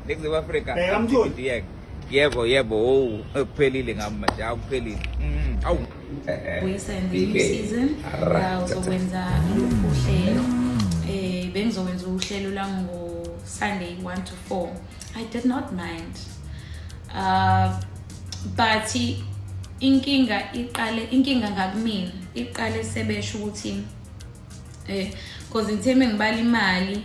Nixi Africa. Bheka mtholi. Yebo yebo oh kuphelile ngami manje akuphelile. Mm, awu. Buyisa in the new season. Uh, uzokwenza lolu uhlelo. Eh bengizokwenza uhlelo la ngo Sunday 1 to 4. I did not mind. Uh but inkinga iqale inkinga ngakumina iqale sebesho ukuthi eh because ngitheme ngibala imali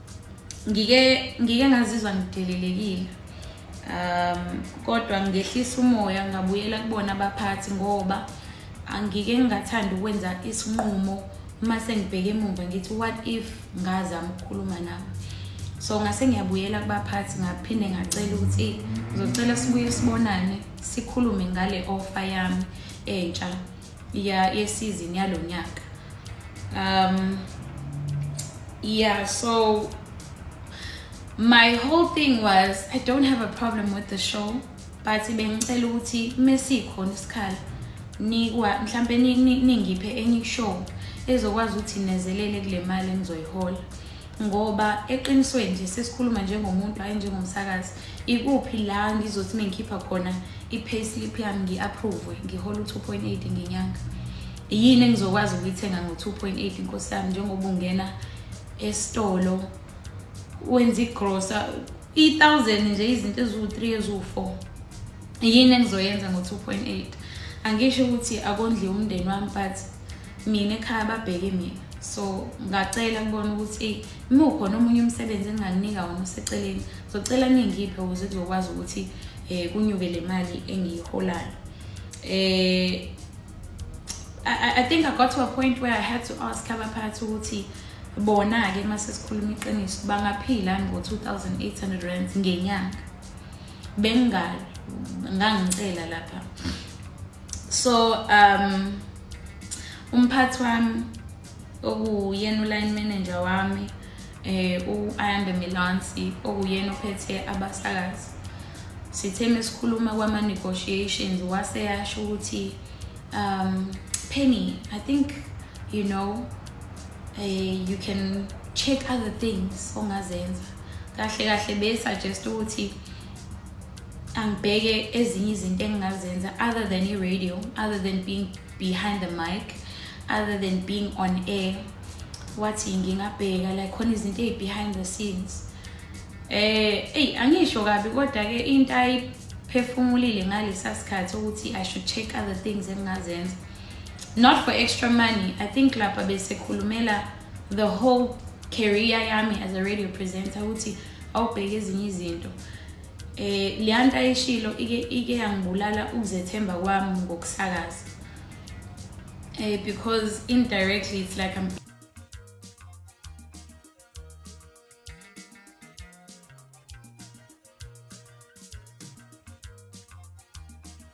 ngike ngike ngazizwa ngidelelekile um kodwa ngehlisa umoya ngabuyela kubona abaphathi ngoba angike ngingathanda ukwenza isinqumo uma sengibheke emumva ngithi what if ngazama ukukhuluma nabo so ngase ngiyabuyela kubaphathi ngaphinde ngacela ukuthi ngizocela sibuye sibonane sikhulume ngale offer yami entsha ya yesizini yalo nyaka um yeah so my whole thing was i don't have a problem with the show but bengicela ukuthi mesikhona isikhala nikwa mhlambe ningiphe enye show ezokwazi ukuthi nezelele kule mali engizoyihola ngoba eqinisweni nje sesikhuluma njengomuntu hhayi njengomsakazi ikuphi la ngizothi uma ngikhipha khona i-pay slip yami ngi-approve ngihole u-two point eight ngenyanga yini engizokwazi ukuyithenga ngo-two point eight nkosi yami njengoba ungena esitolo wenza igrosa i-thousand nje izinto eziwu-three eziwu-four yini engizoyenza ngo-two point eight angisho ukuthi akondliwe umndeni wami but mina ekhaya babheke mina so ngacela kubona ukuthi uma ukhona omunye umsebenzi engingakunika wona useceleni zocela ningiphe ukuze kuzokwazi ukuthi um kunyuke le mali engiyiholayo um I, think I got to a point where I had to ask abaphathi ukuthi bona-ke uma sesikhuluma iqiniso bangaphila ngo-2800 rands ngenyanga bengingali ngangicela lapha so um umphathi wami okuyena uline manager wami eh uAyanda Milansi okuyena ophethe abasakazi sithe mesikhuluma kwama negotiations wase yasho ukuthi um Penny I think you know eh you can check other things ongazenza kahle kahle be suggest ukuthi angibheke ezinye izinto engingazenza other than i-radio other than being behind the mic other than being on air wathi ngingabheka like khona izinto eyi-behind the scenes eh eyi angisho kabi kodwa-ke into ayiphefumulile ngalesa sikhathi ukuthi i should check other things engingazenza not for extra money i think lapha besekhulumela the whole career yami as a radio presenter ukuthi awubheke ezinye izinto eh leya nto ayishilo ike ike yangibulala ukuzethemba kwami ngokusakaza eh because indirectly it's like I'm